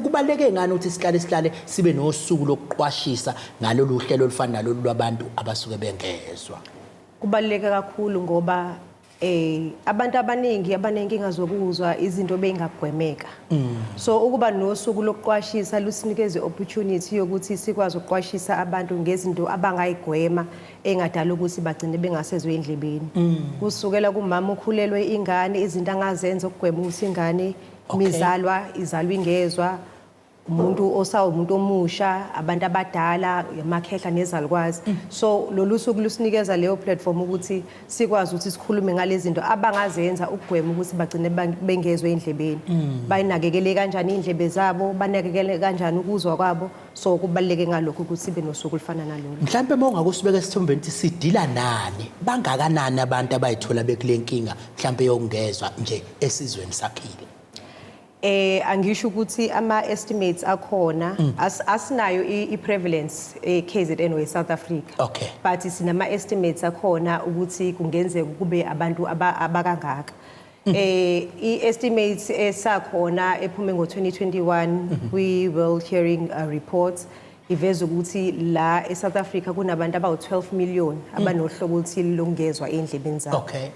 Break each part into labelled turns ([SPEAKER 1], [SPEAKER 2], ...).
[SPEAKER 1] Kubaluleke ngani ukuthi sihlale sihlale sibe nosuku lokuqwashisa ngalolu hlelo olufana nalolu lwabantu abasuke bengezwa? Kubaluleke
[SPEAKER 2] kakhulu ngoba eh abantu abaningi abanenkinga zokuzwa izinto beyingagwemeka mm. so ukuba nosuku lokuqwashisa lusinikeze opportunity yokuthi sikwazi ukuqwashisa abantu ngezinto abangayigwema engadala ukuthi bagcine bengasezwe endlebeni mm. kusukela kumama ukhulelwe ingane izinto angazenza ukugwema ukuthi ingane Okay. mizalwa izalwa ingezwa umuntu osawumuntu omusha abantu abadala amakhehla nezalukwazi so lolu suku lusinikeza leyo platform ukuthi sikwazi ukuthi sikhulume ngalezi zinto abangazenza ukugwema ukuthi bagcine ban- bengezwe endlebeni bayinakekele kanjani indlebe zabo banakekele kanjani ukuzwa kwabo so kubaluleke ngalokho ukuthi sibe nosuku olufana nalolu mhlawumbe uma ungakusibeka
[SPEAKER 1] esithombeni ukuthi sidila nani bangakanani abantu abayithola bekule nkinga mhlawumbe yokungezwa nje esizweni saphila eh
[SPEAKER 2] angisho ukuthi ama estimates akhona mm. as, asinayo i prevalence e eh, KZN we South Africa okay but sinama estimates akhona ukuthi kungenzeka kube abantu abakangaka mm. eh i estimates esakhona ephume ngo 2021 mm-hmm. we will hearing a report Iveza ukuthi la eSouth Africa kunabantu abawu-12 million mm. abanohlobo oluthile lokungezwa endlebeni zabo. Okay.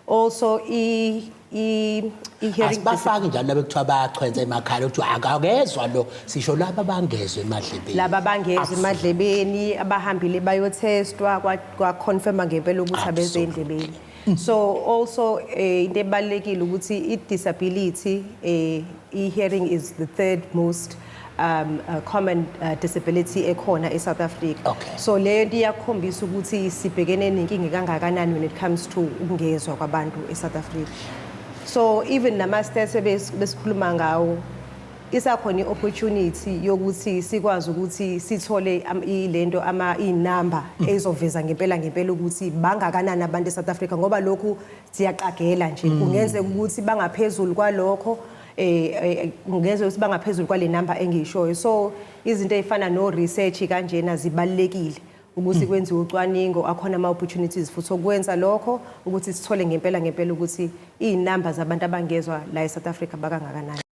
[SPEAKER 1] Also
[SPEAKER 2] i i hearing bafaki njalo abekuthiwa
[SPEAKER 1] bayachwenza emakhala ukuthi akagezwa lo sisho laba bangezwe emadlebeni laba bangezwe
[SPEAKER 2] emadlebeni abahambile bayothestwa kwa confirma ngempela ukuthi abeze endlebeni Mm. so also eh, into ebalekile ukuthi i disability eh, i hearing is the third most um uh, common uh, disability ekhona e South Africa okay. so leyo into
[SPEAKER 1] iyakhombisa
[SPEAKER 2] ukuthi sibhekene nenkinga kangakanani when it comes to ukungezwa kwabantu e South Africa so even nama stats besikhuluma ngawo isakhona i-opportunity yokuthi sikwazi ukuthi sithole le nto iy'namba mm. ezoveza ngempela ngempela ukuthi bangakanani abantu e-south africa ngoba lokhu siyaqagela nje mm. kungenzeka ukuthi bangaphezulu kwalokho Eh, eh ngezwe ukuthi bangaphezulu kwale number engishoyo so izinto ezifana no research kanjena zibalekile ukuthi hmm. kwenziwe ucwaningo akhona ama opportunities futhi okwenza lokho ukuthi sithole ngempela ngempela ukuthi izinamba zabantu abangezwa la eSouth Africa bakangakanani